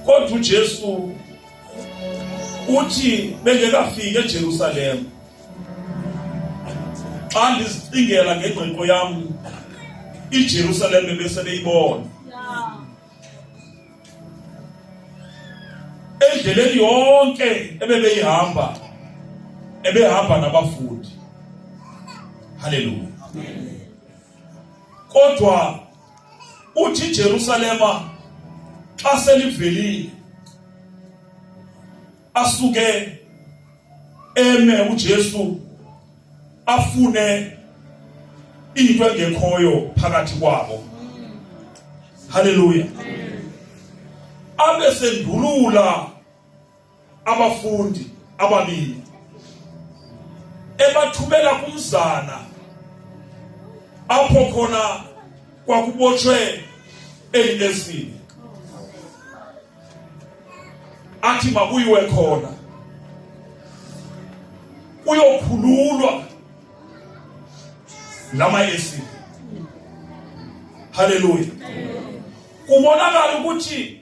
kodwa uJesu uthi bengekafiki eJerusalem xa ndizicingela ngengqiqo yam iJerusalem ebesebeyibona endleleni yonke ebebeyihamba ebehamba nabafundi haleluya kodwa uthi Jerusalema xa selivelile asuke eme uJesu afune into engekhoyo phakathi kwabo haleluya abe sendulula abafundi ababini ebathumela kumzana apho khona kwakubotshwe eli lesini athi makuyiwe khona kuyokhululwa lama esini haleluya kubonakala ukuthi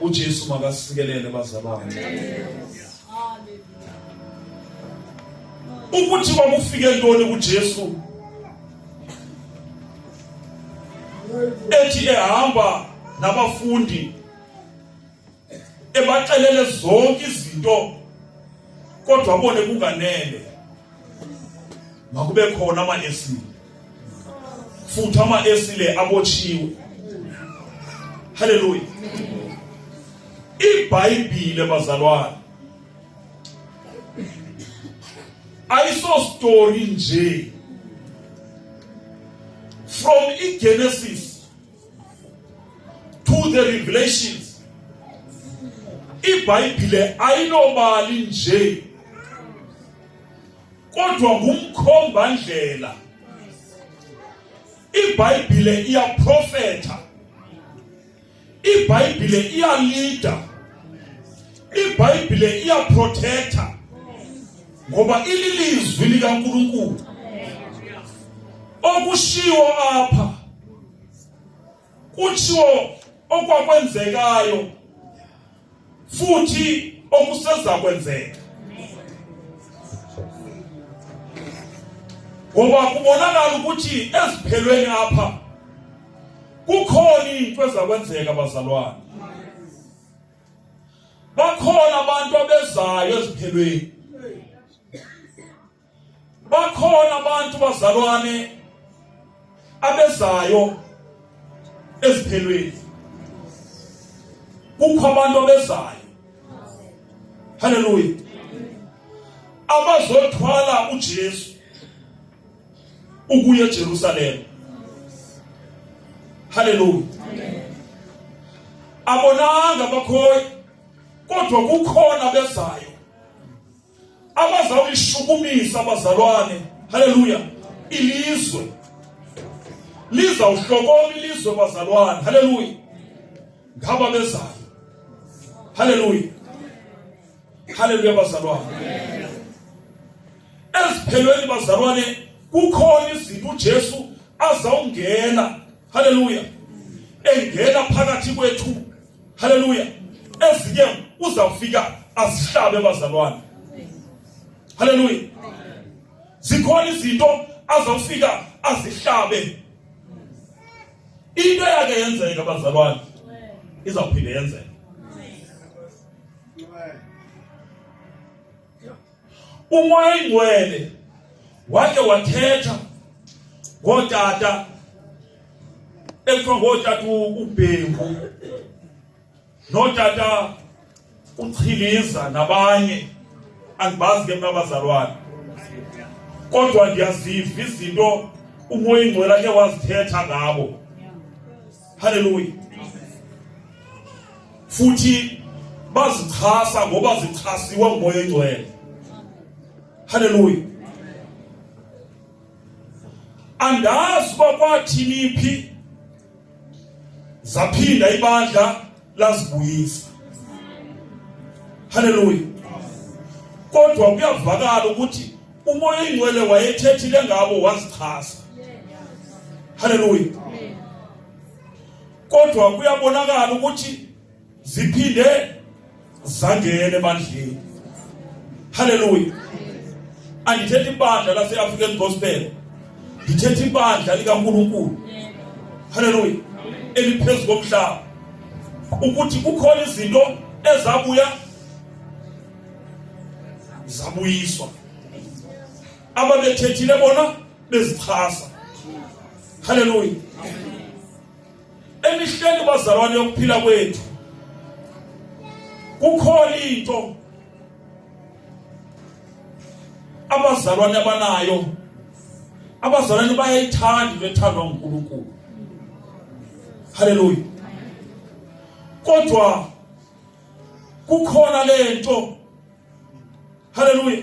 uJesu makasikelele bazalwane ukuthi kwakufike ntoni kuJesu ethi ehamba nabafundi ebaxelele zonke izinto kodwa abone kunganele makube khona ama esile futhi ama esile abotshiwe haleluya ibhayibhile bazalwane ayiso story nje from igenesis to the revelations ibhayibhile ayinobali nje kodwa ngumkhomba ndlela ibhayibhile iyaprofetha ibhayibhile iyalida ibhayibhile iyaprotector ngoba ililizwi likaNkuluNkulu okushiwo apha kutshiwo okwakwenzekayo futhi okuseza kwenzeka ngoba kubonakala ukuthi eziphelweni apha kukhona into ezakwenzeka bazalwane bakhona abantu abezayo eziphelweni bakhona abantu bazalwane abezayo eziphelweni kukho abantu abezayo haleluya abazothwala uJesu ukuya eJerusalem haleluya abonanga bakhoyi kodwa kukhona bezayo abazawulishukumisa abazalwane haleluya ilizwe lizawuhlokoma ilizwe bazalwane haleluya ngaba bezayo haleluya haleluya bazalwane eziphelweni bazalwane kukhona izinto uJesu azawungena haleluya engena phakathi kwethu Haleluya! Ezinye uzawufika azihlabe bazalwane. Haleluya! Zikhona izinto azawufika azihlabe. Into yakhe yenzeka bazalwane izawuphinde yenzeka. umoya oyingcwele wake wathetha ngootata ekuthiwa ngootata ubhengu nootata uchiliza nabanye andibazi ke mna abazalwane kodwa ndiyaziva izinto umoya ingcwele ake wazithetha ngabo Haleluya. Futhi bazichasa ngoba zichasiwa ngumoya oyingcwele. Haleluya. Andazi uba kwathini phi zaphinda ibandla lazibuyisa. Haleluya. Kodwa kuyavakala ukuthi umoya oyingcwele wayethethile ngabo wazichasa. Haleluya. Kodwa kuyabonakala ukuthi ziphinde zangene ebandleni haleluya andithethi ibandla lase-african gospel ndithetha ibandla likankulunkulu haleluya eliphezu komhlaba ukuthi kukhona izinto ezabuya zabuyiswa ababethethile bona bezixhasa haleluya emihleni bazalwane yokuphila kwethu kukhona into abazalwane abanayo abazalwane bayayithanda into ethandwa nguNkulunkulu haleluya kodwa kukhona lento haleluya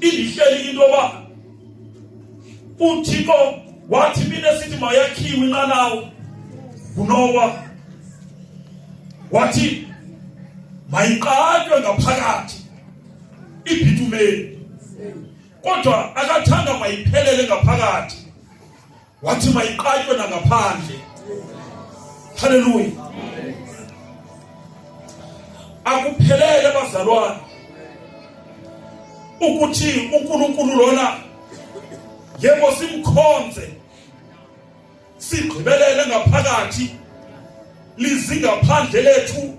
ilihleli into yoba uthixo wathi mina sithi mayakhiwe inqanawo ngunowa wathi mayiqatywe ngaphakathi ibhitumeni kodwa akathanga mayiphelele ngaphakathi wathi mayiqatywe nangaphandle haleluya akuphelele bazalwane ukuthi uNkulunkulu lona yebo simkhonze sigqibelele ngaphakathi lizingaphandle lethu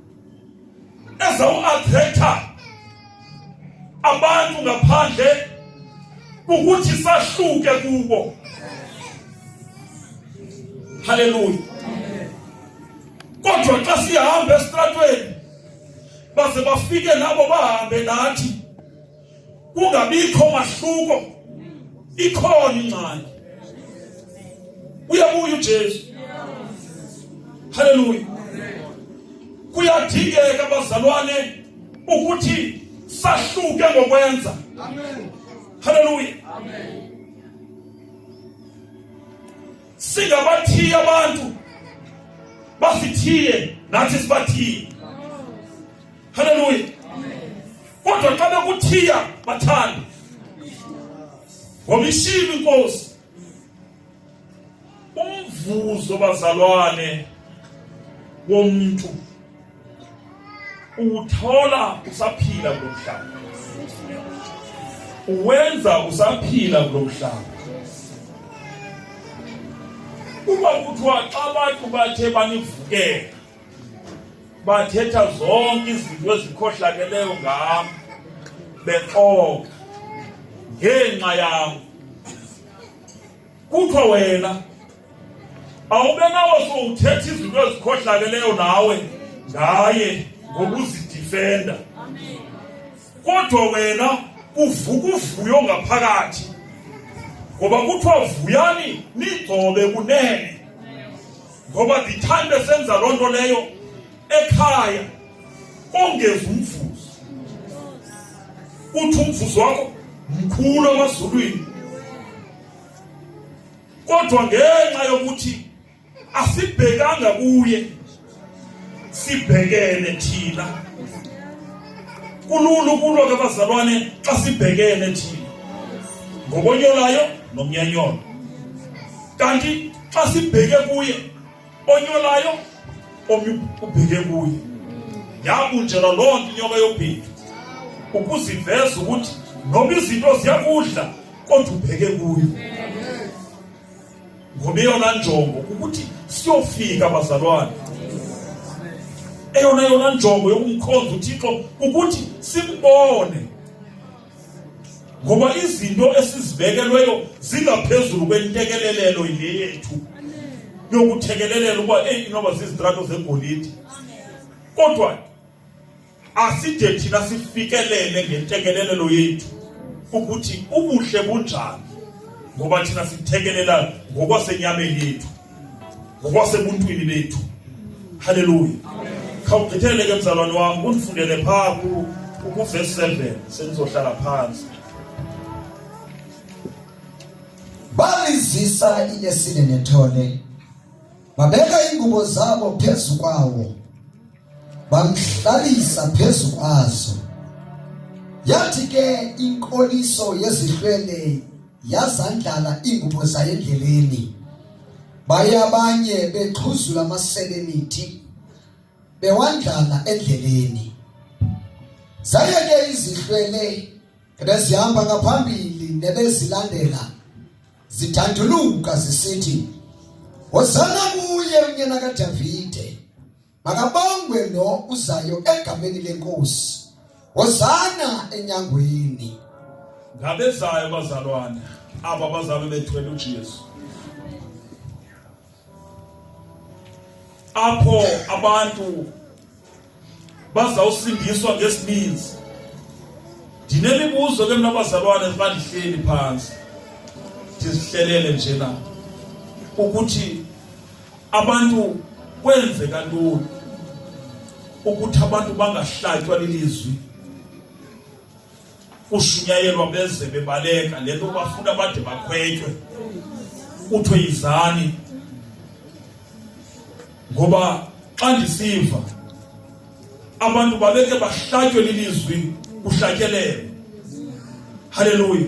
eza uathetha abantu ngaphandle ukuthi sahluke kubo haleluya kodwa xa sihamba esitratweni baze bafike nabo bahambe nathi kungabikho mahluko ikhona ingxaki uyabuya uJesu haleluya kuyadingeka bazalwane ukuthi sahluke ngokwenza amen haleluya amen singabathiya abantu basithiye nathi sibathiye haleluya kodwa xa bekuthiya bathanda ngoba ishilo inkosi umvuzo bazalwane womuntu uthola usaphila kulomhlaba uwenza usaphila kulomhlaba uma kuthiwa xa abantu bathe banivukela bathetha zonke izinto ezikhohlakeleyo ngam bexoka ngenxa yam kuthiwa wena awube nawo sowuthetha izinto ezikhohlakeleyo nawe ngaye ngokuzidifenda kodwa wena uvuka uvuyo ngaphakathi ngoba kuthiwa vuyani nigcobe kunene ngoba ndithanda senza loo nto leyo ekhaya ongezi umvuzo uthi umvuzo wakho mkhulu amazulwini kodwa ngenxa yokuthi asibhekanga kuye sibhekene thina kulula ukulwa kabazalwane xa sibhekene thina ngobonyolayo nomnyanyolo kanti xa sibheke kuye onyolayo omnye ubheke kuye yabunjelwa loo nto inyoka yobhindu ukuziveza ukuthi noma izinto ziyakudla kodwa ubheke kuyo ngoba eyona njongo ukuthi siyofika bazalwane eyona yona njongo yokumkhonza uthixo ukuthi simbone ngoba izinto esizibekelweyo zingaphezulu kwentekelelelo yile yethu yokuthekelelela ukuba eyi inoba zizitrato zegolide kodwa aside thina sifikelele ngentekelelelo yethu ukuthi ubuhle bunjani ngoba thina sithekelela ngokwasenyameni yethu ngokwasebuntwini bethu haleluya khawugqithele ke mzalwane wam undifundele phaa kuvesi seven sendizohlala phantsi balizisa inesine nethole babeka ingubo zabo phezu kwawo bamhlalisa phezu kwazo yathi ke inkoliso yezihlwele yazandlala iingubo zayo endleleni baye abanye bexhuzula amasebe emithi bewandlala endleleni zaye ke izihlwele ebezihamba ngaphambili nebezilandela zidanduluka zisithi hosana kuye unyana kadavide makabongwe lo uzayo egameni lenkosi hosana enyangweni ngabezayo bazalwane aba bazalwe bethwele uJesu apho abantu bazawusindiswa ngesininzi ndinemibuzo ke mna bazalwane xa ndihleli phantsi ndizihlelele nje na ukuthi abantu kwenzeka ntoni ukuthi abantu bangahlatywa lilizwi kushunyayelwa beze bebaleka le nto bafuna bade bakhwetywe kuthiwe yizani ngoba xa ndisiva abantu babeke bahlatywe lilizwi kuhlatyelelwe haleluya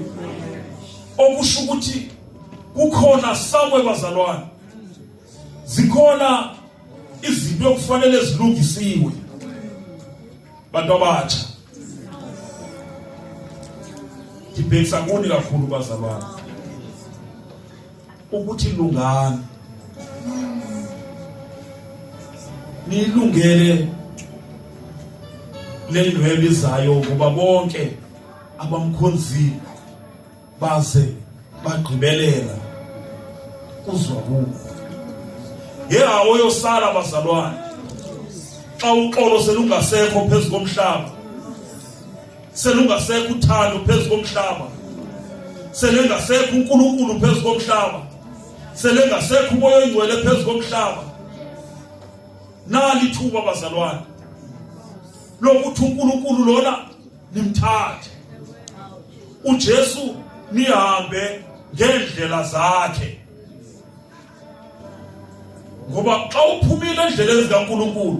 okusho ukuthi kukhona sakwe bazalwane zikhona izinto ekufanele zilungisiwe bantu abatsha ndibhekisa kuni kakhulu bazalwana ukuthi lungani nilungele lendwebe izayo ngoba bonke abamkhonzile baze bagqibelela kuzwakuko ngehawo yosala bazalwane xa uxolo selungasekho phezu komhlaba selungasekho uthando phezu komhlaba selengasekho uNkulunkulu phezu komhlaba selengasekho umoya oyingcwele phezu komhlaba nalithuba bazalwane lokuthi uNkulunkulu lona nimthathe uJesu nihambe ngeendlela zakhe ngoba xa uphumile endleleni zikaNkulunkulu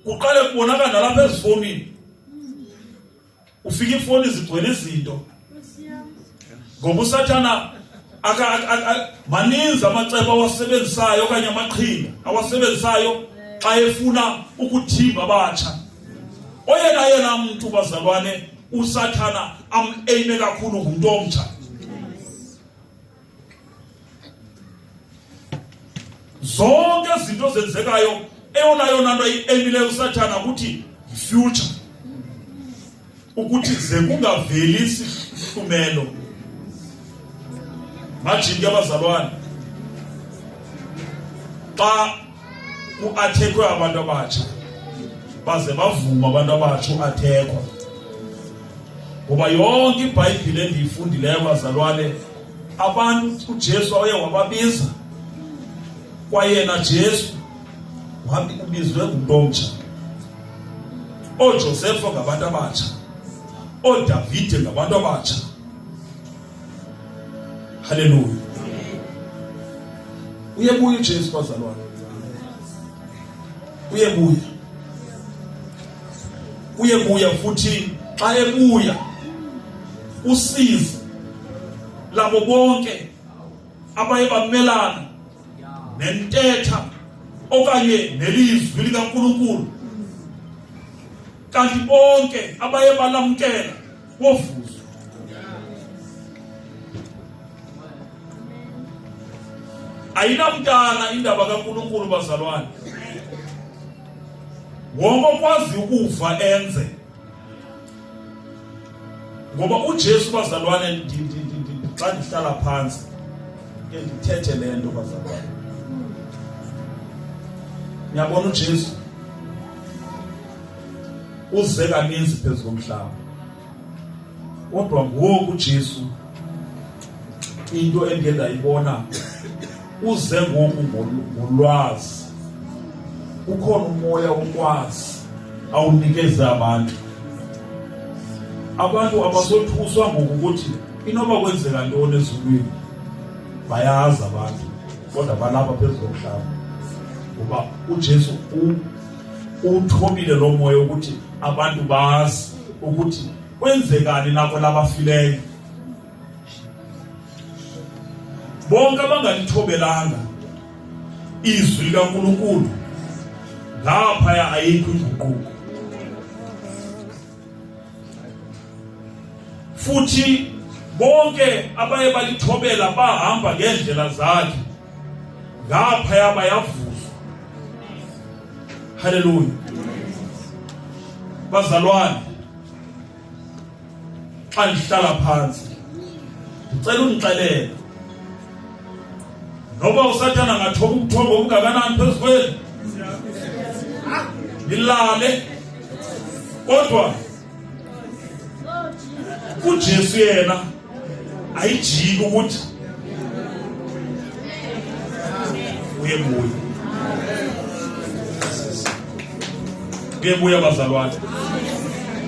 kuqale kubonakala nalapha ezifonini ufika ifoni zigcwele izinto ngoba usathana maninzi amacebo awasebenzisayo okanye amaqhinga awasebenzisayo xa efuna ukuthimba abatsha oyena yena mntu bazalwane usathana am-eyime kakhulu ngumntu omtsha zonke izinto ezenzekayo eyona yona nto emileyo usathana ukuthi future ukuthi ze kungaveli isihlumelo majinki abazalwane xa kuathekwe abantu abatsha baze bavuma abantu abatsha uathekwa ngoba yonke ibhayibhile endiyifundileyo bazalwane abantu ujesu waye wababiza kwayena jesu wabi ubizwe ngumntu omtsha oojosefa ngabantu abatsha oodavide ngabantu abatsha haleluya uyebuya ujesu bazalwane uyebuya uyebuya futhi xa ebuya usizi labo bonke abaye bamelana nentetha okanye nelizwi likaNkulunkulu kanti bonke abaye balamkela confuso. ayinamntana indaba kaNkulunkulu bazalwane wonke okwazi ukuva enze ngoba uJesu bazalwane xa ndihlala phantsi ke ndithethe le nto bazalwane niyabona uJesu uze kaninzi phezu komhlaba kodwa ngoku uJesu into endiye ndayibona uze ngoku ngolwazi ukhona umoya wokwazi awunikeze abantu abantu abasothuswa ngokuthi inoba kwenzeka ntoni ezulwini bayazi abantu kodwa balapha phezu komhlaba ngoba uJesu uwuthobile lo moya ukuthi abantu bazi ukuthi kwenzekani nako labafileyo bonke abangalithobelalanga izwi likaNkulunkulu ngaphaya ayikho inguquko futhi bonke abaye balithobela bahamba ngendlela zakhe ngaphaya bayavuzwa haleluya bazalwane xa ndihlala phantsi ndicela undixelele noba usathana ngathoba umthombo omngakanani phezu kweli nilale kodwa ujesu yena ayijiki ukuthi uyebuya kuyebuya bazalwane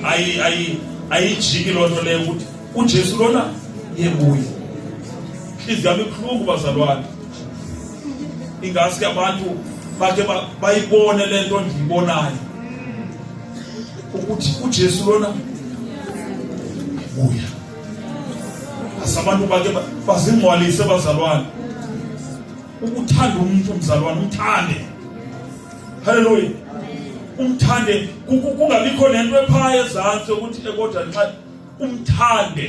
ayi ayi ayijiki loo nto leyo ukuthi ujesu lona yebuya ntliziyo yam ibuhlungu bazalwane ingaske abantu bake bayibone le nto ndiyibonayo ukuthi ujesu lona buya asabantu bake bazingcwalise bazalwane ukuthanda umuntu umzalwane umthande haleluya umthande kungabikho nento ephaya ezantsi ukuthi ekodwa nxa umthande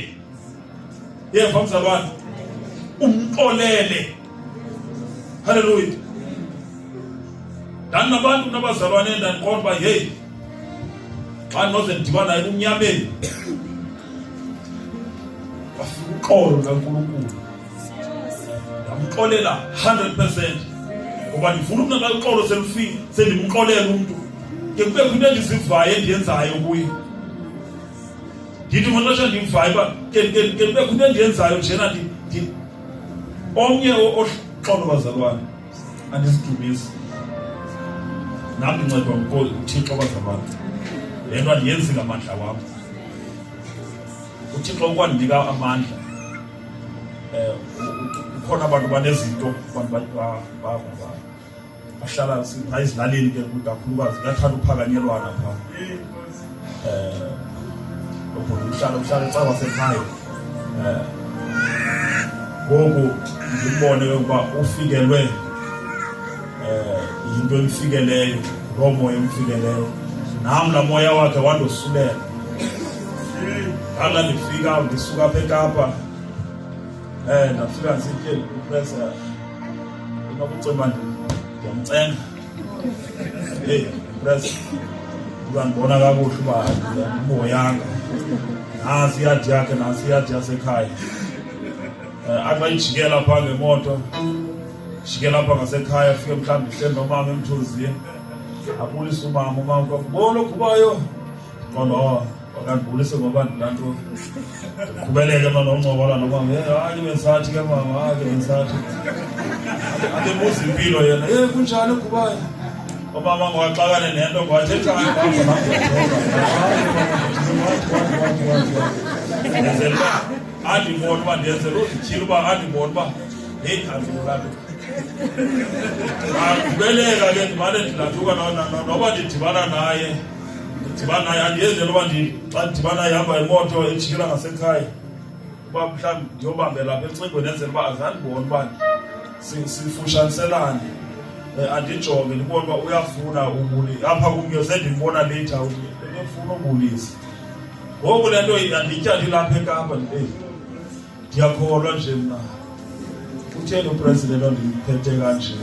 yeva mzalwane umxolele Haleluya. Ndandinabantu nabazalwane endandiqonda uba hey xa ndinoze ndidibana naye kumnyameni wafika uxolo lukankulunkulu ndamxolela 100 percent ngoba ndifuna umntu xa uxolo selufile sendimxolela umntu ke kubekho into endizivayo endiyenzayo kuye ndithi mona xa ndimvayo uba ke kubekho into endiyenzayo njena omnye oxolo bazalwane andisidumisi nam ndincedwa nguthixo bazalwane le nto andiyenzi ngamandla wam uthixo ukwandinika amandla um ukhona abantu banezinto abantu bahlala phaa ezilalini ke kakhulukazi kuyathanda uphakanyelwana phaa um ubhuti uhlala uhlala ecawa sekhaya um ngoku ndimbone ke ukuba ufikelwe um yinto emfikeleyo loo moya emfikeleyo nam laa moya wakhe wandosulela ndala ndifika ndisuka apha ekapa um ndafika ndisityeli upresa unokucemana ndiyamcenga hey pres uzandibona kakuhle uba uboyanga nasi iyadi yakhe nasi iyadi yasekhaya eh, athi bayijikela phaa ngemoto jikela apha ngasekhaya afike mhlawumbi ihleli nomama emthunzini abulise umama umama kwakubona okhubayo mama wakanti bulise ngoba ndinanto kubeleke mama uncokola nomama hayi bendisathi ke mama hayi ke bendisathi andibuza impilo yena e kunjani kubayo omama ngowaxakane nento ngowathethani ndenzela uba andibona uba ndenzela uzityhile uba andibona uba heyi andibulabe akubeleka ke ndimane ndinathuka noba ndidibana naye ndidibana yandiyenzela uba xa ndidibana ihamba imoto ejikela ngasekhaya uba mhlawumbi ndiyobambela apha ecingweni enzela uba azandibona uba sifushaniselane eh, andijonge ndibona uba uyafuna ubuli apha kumnye sendimbona later ebefuna ubulisa ngoku le nto yandityandilapha ekapa ndibeyi ndiyakholwa nje mna utheni upresident ondiphethe kanje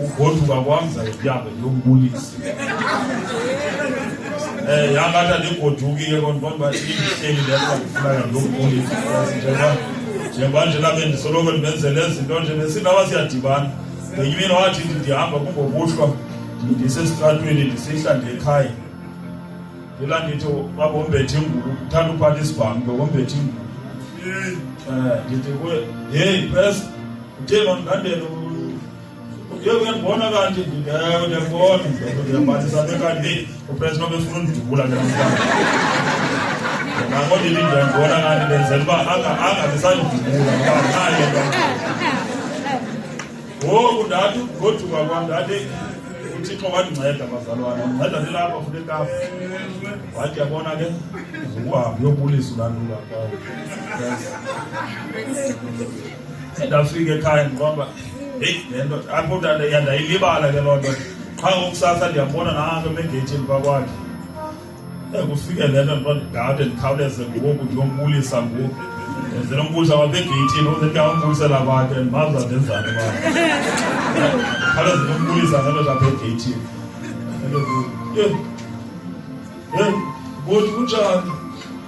ugoduka kwam zayibyabe ndiyombulisa um eh, yangathi andigodukile kondibona uba ihleli le nto ndifunaka ndiyombulisa njengoba njengoba nje labe ndisoloko ndibenzele ezinto nje nesindaba siyadibana ngenye imini wathi ndihamba kungokuhlwa ndisesitratweni ndisihla ndekhaya Ila ndithi babombethe ingubo, uthanda uphatha isibhamu, bombethe ingubo. Eh, eh ndithi kuwe, hey press, utheni ondandela Ye uyangibona kanti ndingewe ndiyakubona ndiyabalisa ke kanti upress nobe funa undidubula ke namhlanje. Ngakho ndithi ndiyangibona kanti ndenzela uba angazisanidubula ngoba nayo ngoku ndathi goduka kwam ndathi uthixo wandinceda bazalwane wandinceda ndilapha futhi ekapa wathi yabona ke ukuhambe uyobulisa ulandula kwawo ndafika ekhaya ndiqomba heyi le nto apho yandayilibala ke loo nto qha ngokusasa ndiyambona nanto emegeyithini kwakwakhe Kufikelele mntu ndingade ndikhawuleze ngoku ndiyombulisa ngoku. Ndenzela umbulisa kwapha egeyithini ukuze ndiyawumbulisela kwakhe ndimazi uba ndenzani kwakhe. Ndikhawuleze ndiyombulisa ngelo lapha egeyithini. Yhe, yhe, bhuti kunjani?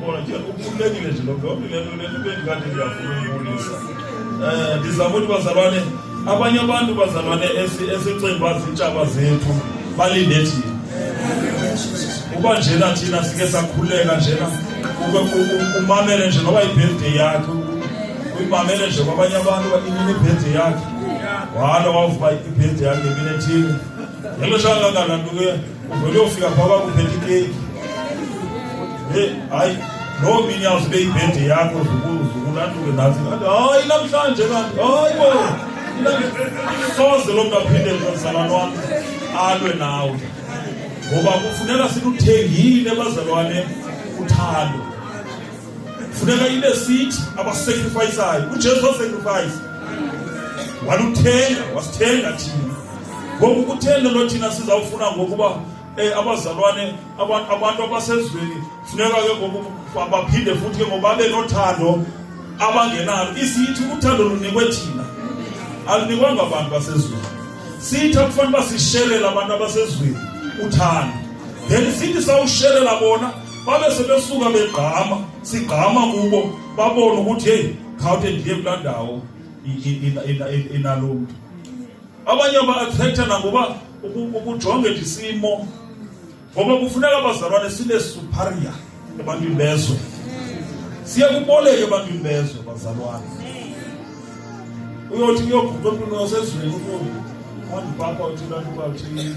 Bona ke ukhulekile nje lokho yonke lento lento bendikade ngiyafuna ukubulisa. Eh ndizama ukuthi bazalwane abanye abantu bazalwane esicinga bazintshaba zethu balinde thina. Uba njena thina sike sakhuleka njena umamele nje noba ibirthday yakhe uyimamele nje kwabanye abantu inini ibirthday yakhe. Walo wawuvuba ibirthday yakhe mina thina. Yalo shaka kangakantu ke Rodolphe apaba kupeti keki. Hey, hayi loo mini yawusibe ibhedi yakho zukulanduke nathi kanti hayi namhlanje kanti hayi bo soze loo mntu aphinde mzalwane wam alwe nawe ngoba kufuneka siluthengile bazalwane uthando funeka ibe sithi abasacrifisayo ujesu wasacrifayisa waluthenga wasithenga thina ngoku kutheni lo thina sizawufuna ngokuba um eh, abazalwane abantu abasezweni funeka ke ngoku baphinde futhi ke ngoba babe nothando abangenalo isithi uthando lunikwe thina alunikwanga abantu basezweni sithi akufanele uba sishelela abantu abasezweni uthando then sithi sawushelela bona babe sebesuka begqama sigqama kubo babone ukuthi heyi khawuthe ndiye kulaa ndawo inalo mntu abanye ba-atrektha nangoba ukujonge ndisimo ngoba kufuneka abazalwane sibe superior ebantwini bezwe siye kuboleke ebantwini bezwe bazalwane uyothi kuyoguqa emntwini wasezweni uyo phambi papa uthi lantu bathini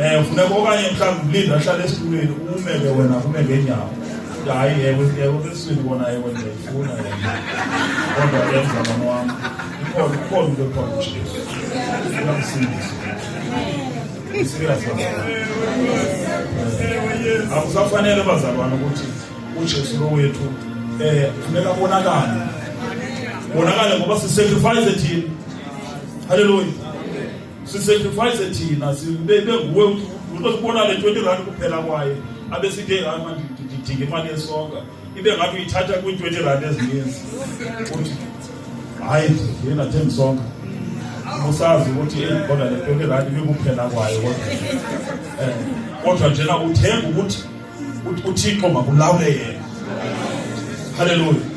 Eh ufuna okanye mhlawumbi ulinda ahlale esitulweni ume ke wena ume ngenyawo. Hayi yebo yebo kesini kona yebo ndiyifuna yena. Kodwa yenza mama wam. Ikhona ikhona into ekhona nje. Ufuna kusindisa. Serious. Akusafanele bazalwane ukuthi uJesu lo wethu eh funeka bonakale. Bonakale ngoba sisacrifice thina. Hallelujah. sisacrifice thina sibenguwe usibona le twenty rand kuphela kwaye abe sithi hayi mandidinga imali yesonka ibe ngathi uyithatha kwi-twenty rand ezininzi uthi hayi yena thenga isonka usazi ukuthi eyi kodwa le twenty rand ibikuphela kwayo kodwa um kodwa njena uthenga ukuthi uthixo makulawule yena halleluya